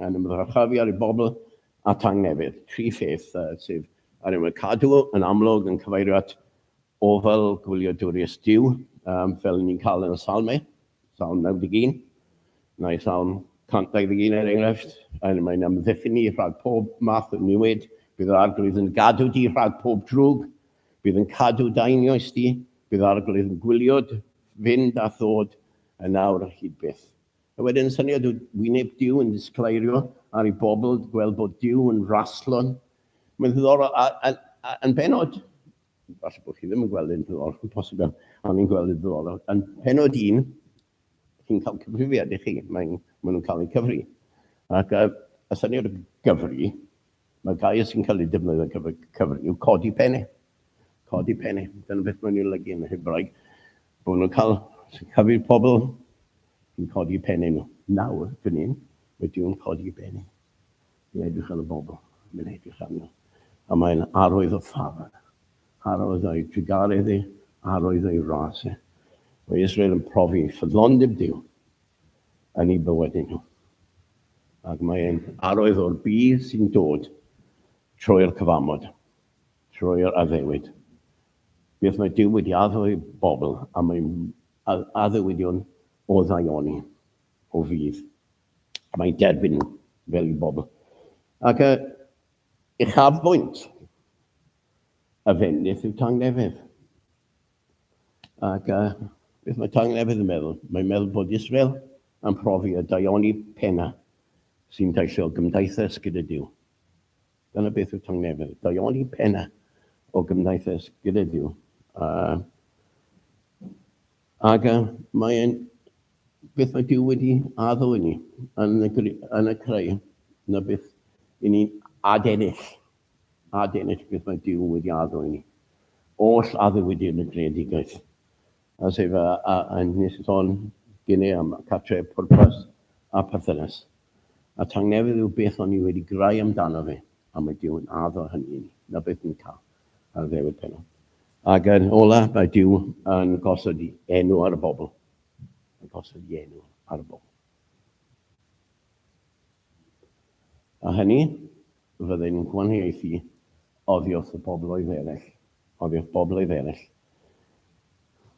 yn ymddychafu ar ei bobl a tangnefydd. Tri pheth sydd ar ein wyneb cadw yn amlwg yn cyfeirio at ofal gwyliadwriaeth Duw, fel ni'n cael yn y Salmau, Salm 91, neu Salm 121 er enghraifft, yn mae'n amddiffyn ni rhag pob math o niwed, bydd yr arglwydd yn gadw di rhag pob drwg, bydd yn cadw dainioes di, bydd arglwydd yn gwylio Fynd a ddod yn awr ar hyd byth. A wedyn syniad o wyneb Duw yn disgleirio ar ei bobl, gweld bod Duw yn raslo. Mae'n ddiddorol, a, a, a yn benod, falle bod chi ddim yn gweld yn ddiddorol, yn posib, ond ni'n gweld yn ddiddorol, yn penod un, chi'n cael cyfrifiad i chi, mae'n, maen nhw'n cael eu cyfri. Ac y, y syniad o gyfri, Mae'r gair sy'n cael ei defnyddio ar gyfer cyfri yw codi penne. Codi penne. Dyna beth mae'n ei olygu yn y Hebraeg. Bod nhw'n cael cyfri'r pobl yn codi penne nhw. Nawr, fan hyn, mae Duw'n codi penne. Mae'n edrych ar y bobl. Mae'n edrych ar nhw. A mae'n arwydd o ffafr. Arwydd o'i drugaredd e. Arwydd o'i ras e. Mae Israel yn profi ffyddlondeb Duw. yn eu bywydau nhw. Ac mae e'n arwydd o'r budd sy'n dod trwy'r cyfamod, trwy'r addewid. Beth mae Dyw wedi addo i bobl, a mae addewidion o ddaioni, o fudd. Mae'n derbyn nhw fel i bobl. Ac y uchafbwynt y fendith yw tangnefedd. Ac uh, beth mae tangnefedd yn meddwl? Mae'n meddwl bod Israel yn profi y daioni pena sy'n daisio gymdaithas gyda Dyw. Dyna beth yw tangnefedd, daioni pena o gymdaithas gyda Dyw. Uh, ac uh, mae'n beth mae Dyw wedi addo i ni yn y, yn y creu, na beth i ni'n adennill a denis beth mae Duw wedi addo i ni. Oll addewid yn y greadigaeth. A sef a, a, a nes i sôn gynnau am catre, pwrpas a perthynas. A tangnefedd yw beth o'n i wedi grau amdano fe, a mae Duw yn addo hynny i ni. Na beth ni'n cael ar y ddewyd penod. Ac yn ola, mae Duw yn gosod i enw ar y bobl. Yn gosod i enw ar y bobl. A hynny, fyddai'n gwahaniaethu oddi wrth y bobloedd eraill, oddi wrth bobloedd eraill,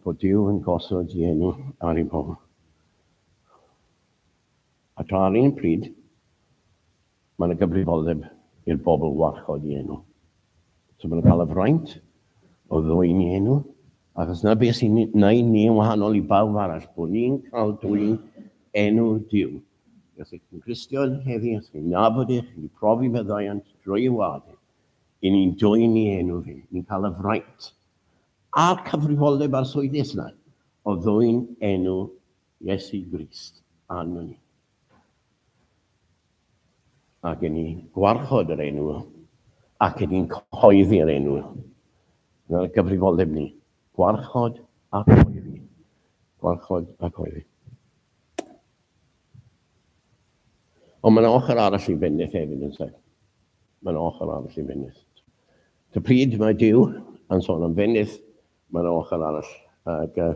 bod Duw yn gosod dienw ar ei bobl. A tra ar un pryd, mae yna gyfrifoldeb i'r bobl warchod i enw. So mae'n cael y fraint o ddwy'n i enw, achos na beth sy'n ni, na'i ni yn wahanol i bawb arall, bod ni'n cael dwy'n enw Duw. Os ych chi'n Gristion heddi, os chi'n nabod ych, chi'n profi meddaiant drwy y wlad hyn, i ni'n dwyn i enw fi, ni'n cael y fraint a'r cyfrifoldeb arswydus yna o ddwyn enw Iesu Grist arno ni. Ac yn ni'n gwarchod yr enw ac yn ni'n cyhoeddi'r enw. Dyna'r gyfrifoldeb ni. Gwarchod a cyhoeddi. Gwarchod a cyhoeddi. Ond mae'n ochr arall i Fenith hefyd, yn sef. Mae'n ochr arall i Fenith. Ta pryd mae Dyw yn sôn am Fenith, mae'n ochr arall. Ac uh,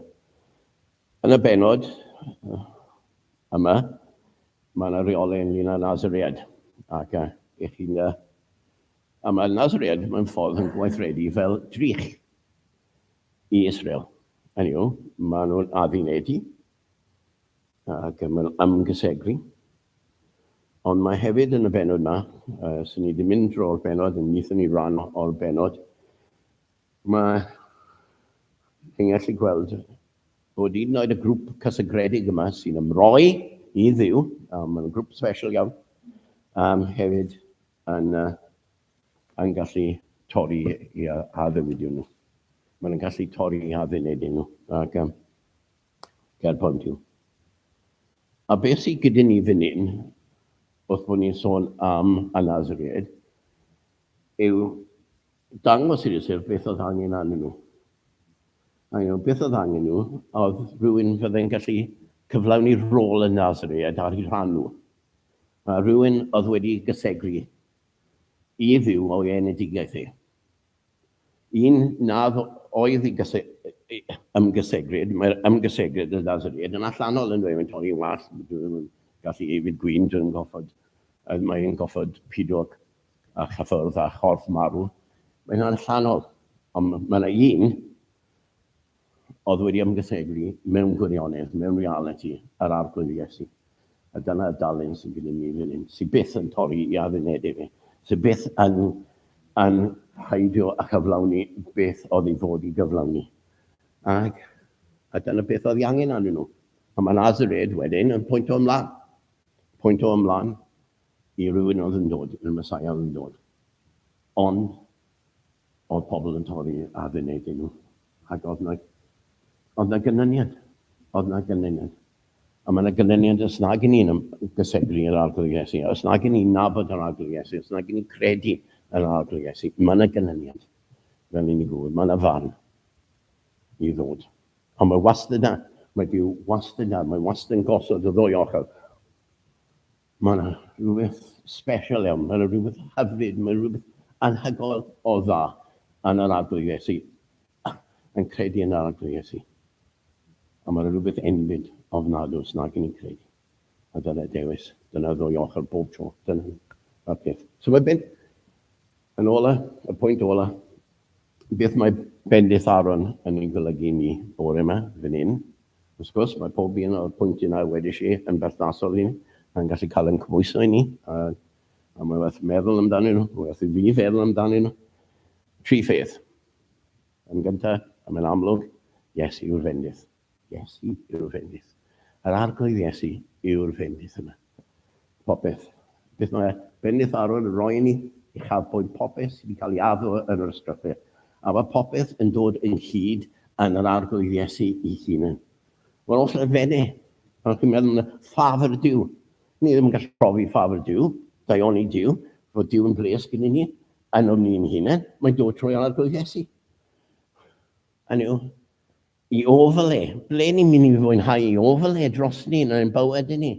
yn y benod uh, yma, mae yna reolau ynglyn â Nazaread. Ac uh, i chi uh, a mae Nazaread mae'n ffordd yn gweithredu fel drych i Israel. Hynny yw, maen nhw'n addinedu ac am yr ymgysegru. Ond mae hefyd yn y benod yma, uh, sy'n ni ddim mynd drwy'r benod, yn nithon ni ran o'r benod, mae yn gallu gweld bod un oed y grŵp cysygredig yma sy'n ymroi i ddiw, um, mae'n grŵp special iawn, um, hefyd yn, uh, yn gallu torri i addewidion nhw. Mae'n gallu torri i addunedau nhw. Ac, um, Ger pont yw. A beth sydd gyda ni fan hyn, wrth bod ni'n sôn am y Nazareaid, yw dangos i'r Iesir beth oedd angen arnyn nhw. A nhw, beth oedd angen nhw, oedd rhywun fydde'n gallu cyflawni rôl y Nazareaid ar ei rhan nhw. A rhywun oedd wedi gysegru i fyw o'i enedigaeth ei. un nad oedd i ymgysegryd, mae'r ymgysegryd yn ddasryd yn allanol yn dweud mae'n torri'n wallt, dwi ddim yn gallu ei fyd gwyn, dwi ddim yn goffod, mae'n goffod pido a chyffwrdd a chorff marw, mae'n allanol, ond mae yna un oedd wedi ymgysylltu mewn gwirionedd, mewn realiti, â'r Arglwydd Iesu. A dyna y dalent sydd gyda ni fan hyn, sydd byth yn torri i addunedau fe, sydd byth yn, yn haidio a chyflawni beth oedd ei fod i gyflawni. Ac, a dyna beth oedd ei angen arnyn nhw. A mae Nazared wedyn yn pwynt o ymlaen. Pwynt o ymlaen i rywun oedd yn dod, i'r Messiah oedd yn dod. Ond, Oedd pobl yn torri ar fy neg i nhw. Ac oedd 'na... oedd 'na gynlyniad. Oedd 'na gynlyniad. A mae 'na gynlyniad os nag 'yn ni'n ymgyseglu i'r Arglwydd Iesu, os nag 'yn ni'n nabod yr Arglwydd Iesu, os nag 'yn ni'n credu yn yr Arglwydd Iesu. Mae 'na gynlyniad, fel i ni gŵr. Mae 'na farn i ddod. Ond mae wastad 'na. Mae Duw wastad 'na. Mae wastad yn gosod y ddwy ochr. Mae yna rhywbeth sbesial iawn, mae yna rhywbeth hyfryd, mae yna rhywbeth anhygoel o dda yn yr Arglwydd Iesu, yn credu yn yr Arglwydd Iesu. A mae yna rhywbeth enbyd ofnadw os nag yn ni'n credu. A dyna dewis, dyna ddwy ochr bob tro, dyna y peth. So mae ben, yn ola, y pwynt ola, beth mae bendith Aaron yn ei golygu ni bore yma, fan hyn, Wrth gwrs, mae pob un o'r pwyntiau 'na, wedes i, yn berthnasol i ni. Mae'n gallu cael ein cymhwyso i ni, a, a mae werth meddwl amdanyn nhw, mae werth i fi feddwl amdanyn nhw. Tri pheth. Yn gyntaf, a mae'n amlwg, Iesu yw'r fendith. Iesu yw'r fendith. Yr Arglwydd Iesu yw'r fendith yna. Popeth. Beth mae Bennyth Aron yn roi i ni? Uchafbwynt popeth sydd wedi cael ei addo yn yr Ysgrythur. A mae popeth yn dod ynghyd yn yr Arglwydd Iesu ei hunan. Wel, os na fene, pan chi'n meddwl na ffafr Duw, ni ddim yn gallu profi ffafr Duw, daioni Duw, fod Duw yn bres gyda ni, yn o'n ni'n hunan, mae'n dod trwy Arglwydd Iesu. Hynny yw, i ofal e, ble ni'n mynd i fwynhau i ofal e dros ni yn ein bywyd i ni,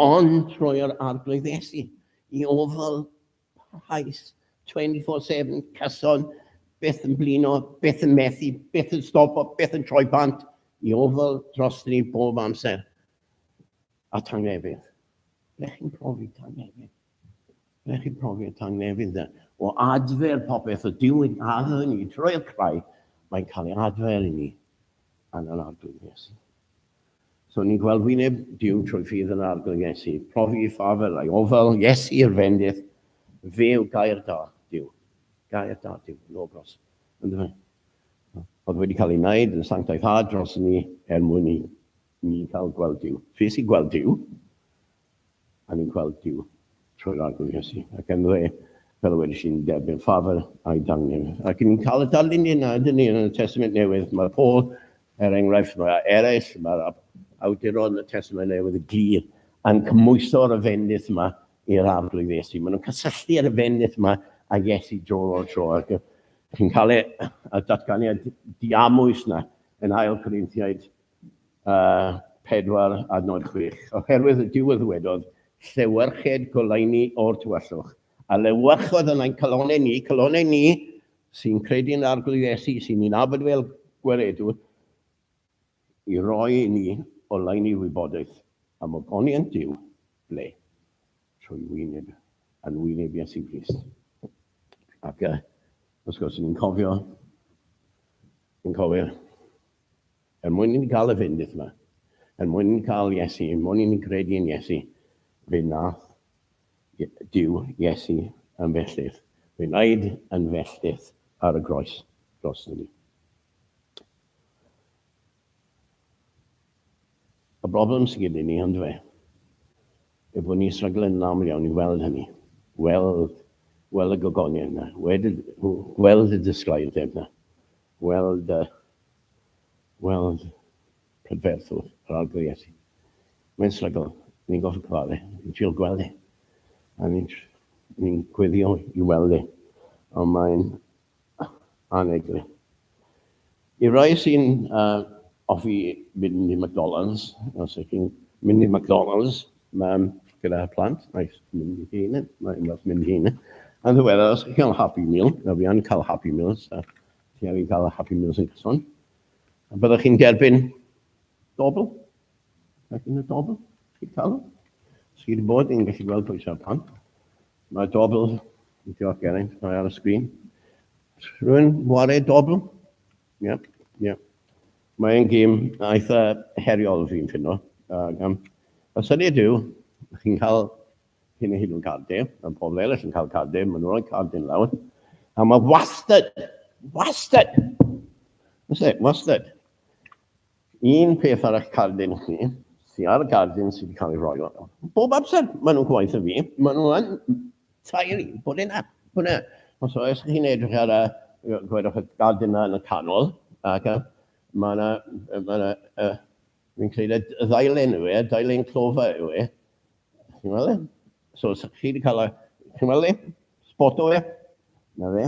ond trwy yr Arglwydd Iesu, i ofal parhaus, 24-7, cyson, byth yn blino, byth yn methu, byth yn stopo, byth yn troi bant, i ofal dros ni bob amser. A tangnefydd. Ble chi'n profi tangnefydd? Mae chi profiad tangnefydd de, o adfer popeth y Duw yn adfer ni trwy'r craig, mae'n cael ei adfer i ni yn yr arglwydd Iesu. So ni'n gweld wyneb Duw trwy ffydd yn arglwydd Iesu, profi i ffafel a'i ofal Iesu i'r fendith, fe yw gair da Duw, gair da Duw, logos, yn dweud. Oedd wedi cael ei wneud yn sanctaethad dros ni er mwyn i ni cael gweld Duw. Fe sy'n gweld Duw, A ni'n gweld Duw trwy'r Arglwydd Iesu, ac ynddo fe, fel y wedais i'n derbyn ffafr a'i dangnef. Ac ni'n cael y darlun yna, ydyn ni, yn y Testament Newydd. Mae Paul, er enghraifft, mae eraill, mae'r awduron y Testament Newydd y glir, yn cymhwyso ar y fendith yma i'r Arglwydd Iesu. Maen nhw'n cysylltu ar y fendith yma a Iesu dro o'r tro. Ac chi'n cael y datganiad diamwys yna yn ail Corinthiaid 4 a nod 6, oherwydd y Duw a ddwedodd, Llewyrched goleuni o'r tywyllwch, a lewyrchodd yn ein calonau ni, calonau ni sy'n credu yn arglwydd Iesu, sy'n ni'n abod fel gweredwr, i roi i ni oleuni wybodaeth am ogoniant Duw, ble? Trwy wyneb, yn wyneb Iesu Grist. Ac uh, os gwrs, ni'n cofio, ni'n cofio Er mwyn inni gael y fendith 'ma. Er mwyn inni gael Iesu. Er mwyn inni gredu yn Iesu. Fe wnaeth Duw Iesu yn felltith. Fe wnaed yn felltith ar y groes dros ni. Y broblem sydd gyda ni, ond fe, yw bod ni'n srygl yn aml iawn i weld hynny. Weld, weld y gogonion yna. Weld, weld y disglair yna. Weld a weld prydferthwch yr Arglwydd Iesu. Mae'n strygl, ni'n gorfod cyfarfod e, ni'n trio gweld e, a ni'n ni'n gweddio i weld e, ond mae'n aneglu. I rai sy'n uh, offi mynd i McDonald's, os ydych chi'n mynd i McDonald's, Mam gyda plant, mae'n mynd i hyn, mae'n mynd i hyn. Yn ddiweddar, os chi'n cael Happy Meal, na fi yn cael Happy Meals, a ti angen cael Happy Meals yn cyson, a byddwch chi'n derbyn dobl, ac yn y dobl, chi'n cael Sydd wedi bod yn gallu gweld pwysau pan. Mae dobl, yn diolch Geraint, mae ar y sgrin. Rwy'n wario dobl, Ie, ie. Mae'n gêm eitha heriol fi'n ffinno. Ac um, y syniad yw, chi'n cael hyn a hyn o'n cardiau, a pobl eraill yn cael cardiau, maen nhw'n rhoi cardiau lawr, a mae wastad, wastad, wastad, wastad, Un peth arall cardyn chi, sy ar y gardyn sydd wedi cael ei roi yno. Bob amser maen nhw'n gwaith y fi, maen nhw yn tair i bod yna. Bod yna. Os oes chi'n edrych ar y, gwedwch y gardyn yna yn y canol, ac y, mae yna, mae yna, uh, fi'n creid y ddailen yw e, ddailen clofa yw e. Chi'n meddwl e? So, chi wedi cael y, chi'n meddwl e? Spoto e? Na fe.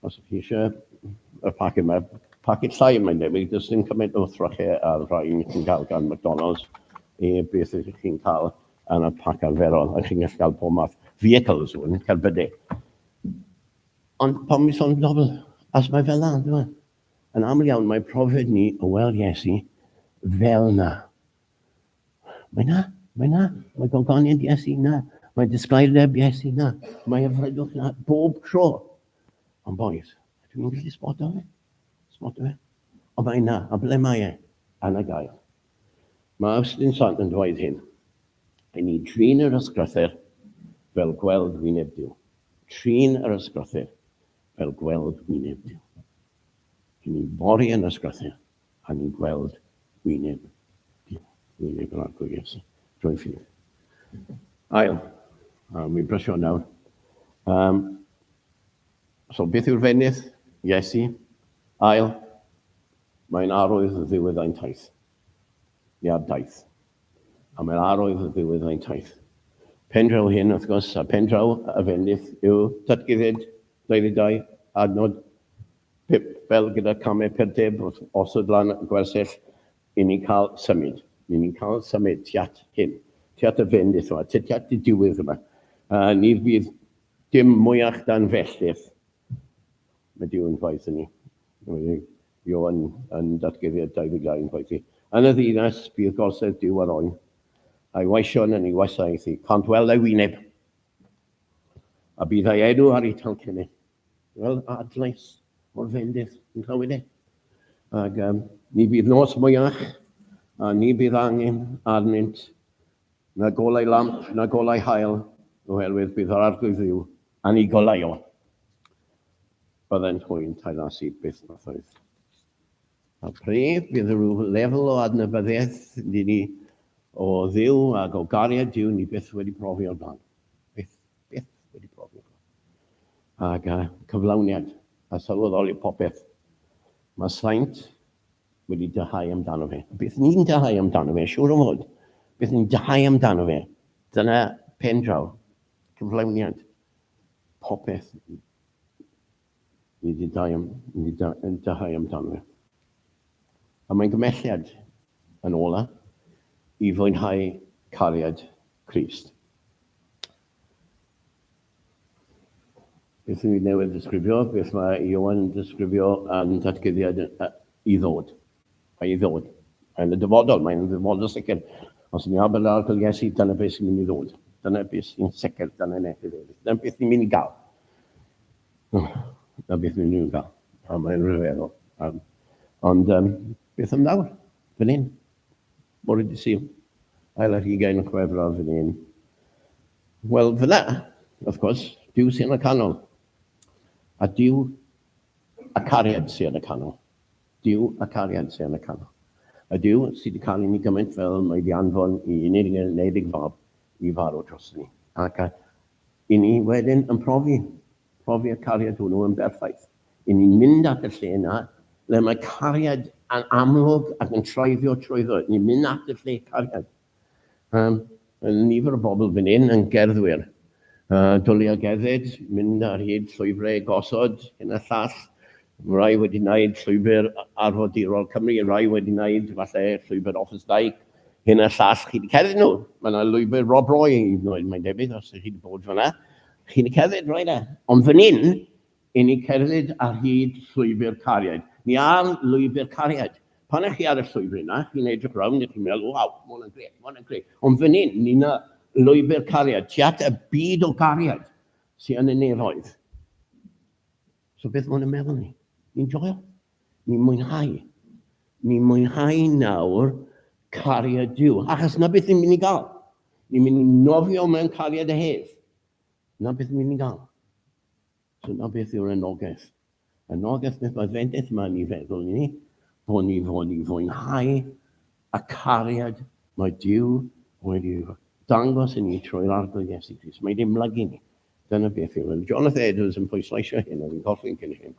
Os ydych chi eisiau y paced yma, paced llai mae'n debyg, does dim cymaint o thrychau a'r rhain chi'n cael gan McDonald's i beth ydych chi'n cael yn y pac arferol, a chi'n gallu cael pob math vehicles hwn, cerbydau. Ond pan mi sôn dobl, as mae fel yna, dyma. Yn aml iawn mae profiad ni o weld Iesu fel yna. Mae na, mae na, mae gogoniant Iesu na, mae disglaireb Iesu na, mae ymwneud na bob tro. Ond boys, dwi'n mynd gallu sboto fe? Sboto fe? O mae na, a ble mae e? Anna gael. Mae Austin Sant yn dweud hyn. I ni trin yr ysgrythyr fel gweld wyneb Dyw. Trin yr ysgrythyr fel gweld wyneb Dyw. I ni fori yn ysgrythyr a ni'n gweld wyneb Duw, wyneb yr Arglwydd Iesu, drwy ffydd. Ail, a mi'n brysio nawr. Um, so beth yw'r fenydd? Iesu. Ail, mae'n arwydd y ddiwedd ein taith. Ia, daith. A mae'n arwydd y ddiwedd ein taith. Pendraw hyn, wrth gwrs, a pendraw y fenydd yw datguddiad 22, adnod Pip, Fel gyda camau perdeb wrth osod lan y gwersyll, i ni'n cael symud. Ni ni'n cael symud tu at hyn, tu at y fendith yma, tu at y diwedd yma. A ni fydd dim mwyach dan felltith. Mae Duw yn gwaith yn ni. Mae Ioan yn datguddiad 22 yn gwaith i. Yn y ddinas bydd gorsedd Duw ar oen, a'i weision yn ei wasaeth i. Cant weld ei wyneb, a bydd ei enw ar ei talcennau. Wel, adlais o'r fendith yn Nhywyn e. Ac um, ni bydd nos mwyach, a ni bydd angen arnynt na golau lamp, na golau hael, oherwydd bydd yr arglwydd ddiw yn ei golau o. Byddai'n hwynt a'i lasu byth mathoedd. A pryd bydd rhyw lefel o adnabyddiaeth ni o ddiw ac o gariad diw ni byth wedi profi o'r blaen. byth wedi profi. Ac a cyflawniad, a sylweddoli popeth. Mae Saint wedi dyhau amdano fe. Bydd ni'n dyhau amdano fe, siŵr o fod. Bydd ni'n dyhau amdano fe. Dyna pen draw, cyflawniad, popeth. Ni di dau am, ni di da, dau amdano fe. A mae'n gymhelliad yn ola i fwynhau cariad Crist. Beth yw newydd ddisgrifio? Beth mae Iowan yn disgrifio yn datguddiad i ddod? Mae i ddod. Mae yn y dyfodol, mae yn y dyfodol sicr. Os ni ar byrddau'r arglwydd Iesu, dyna beth sy'n mynd i ddod. Dyna beth sy'n sicr, dyna yn eithaf efo. Dyna beth ni'n mynd i gael. Dyna beth ni'n mynd i gael. A mae'n rhyfeddol. Um, ond um, beth am nawr? Fy nyn. Bore di sy'n. Ail ar hugain yn chwefraf fy nyn. Wel, fyna, of course, diw sy'n y canol. A diw a cariad sy'n y canol. Duw ac arian sy yn y canol. Y Duw sydd di cael i ni gymaint fel mae di anfon i unig neiddig fab i farw dros ni. Ac a i ni wedyn yn profi, profi y cariad hwnnw yn berffaith. I ni'n mynd at y lle yna le mae cariad yn amlwg ac yn troeddio trwyddo. Ni'n mynd at y lle cariad. Mae nifer o bobl fan hyn yn gerddwyr. Dwlu a gerdded, mynd ar hyd llwybrau gosod, hyn a llall. Mae rhai wedi gwneud llwybr arfordirol Cymru, rhai wedi gwneud falle llwybr Offa's Dyke, hyn a llall. Chi wedi cerdded nhw? Mae yna lwybr Rob Roy hyd yn oed, mae'n debyg, os ydych chi wedi bod fan'na. Chi wedi cerdded rai 'na? Ond fan hyn, I ni cerdded ar hyd llwybr cariad. Ni ar lwybr cariad. Pan ych chi ar y llwybr yna, chi'n edrych rownd a chi'n meddwl, waw, ma' hwnna'n grêt, ma' hwnna'n grêt. Ond fan hyn, ni na lwybr cariad, tu at y byd o gariad sy yn y nefoedd. So beth mae hwn yn meddwl ni? Ni'n joio. Ni'n mwynhau. Ni'n mwynhau nawr cariad Duw. Achos na beth ni'n mynd i gael. Ni'n mynd i nofio mewn cariad a hef. Na beth ni'n mynd i gael. Dyna beth yw'r anogaeth. Anogaeth beth mae fendith yma yn ei feddwl ni, bod ni fod i fwynhau y cariad mae Dyw wedi dangos i ni trwy'r arglwydd Iesu Grist. Mae wedi ymlygu ni. Dyna beth yw. Yn Jonathan Edwards yn pwysleisio hyn, oedd yn colli'n cyn hyn.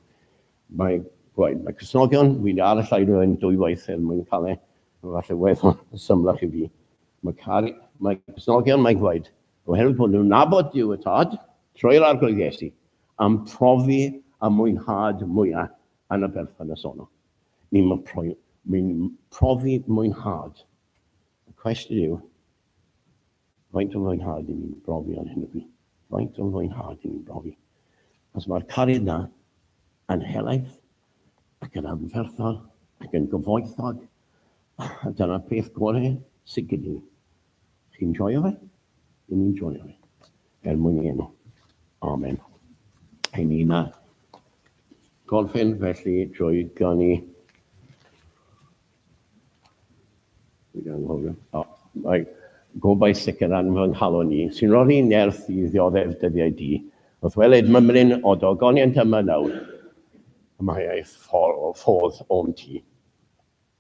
Mae gwaed, mae Cysnogion, wedi ar y llaid o hyn dwy waith er mwyn cael e, falle weddol symlach i fi. Mae, cari, mae Cysnogion, mae gwaed, Oherwydd bod nhw'n nabod Duw y Tad, trwy'r Arglwydd Iesu, am profi a mwynhad mwyaf yn y berthynas honno. Ni'n ni profi mwynhad. Y cwestiwn yw, faint o mwynhad i ni'n brofi ar hyn o bryd? Faint o mwynhad i ni'n brofi? Os mae'r cariad yna yn helaeth ac yn anferthol ac yn gyfoethog, dyna'r peth gorau sydd gyda ni. Chi'n joio fe? Dyn ni'n joio fe. Er mwyn ei enw. Amen. Ein ni na. Gorffen felly drwy ganu. Dwi'n anghofio. O, mae gobau sicr yn fy nghalon ni, sy'n rhoi nerth i ddioddef dyddiau di. Wrth weled mymryn o dogoniant yma nawr, y mae ei ffordd o'm ti.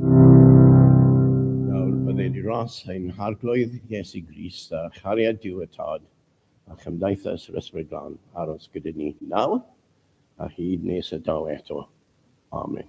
Nawr bydde dros ein harglwydd Iesu Grist a chariad Duw y Tad a chymdeithas yr Ysbryd Glân aros gyda ni nawr a hyd nes y daw eto. Amen.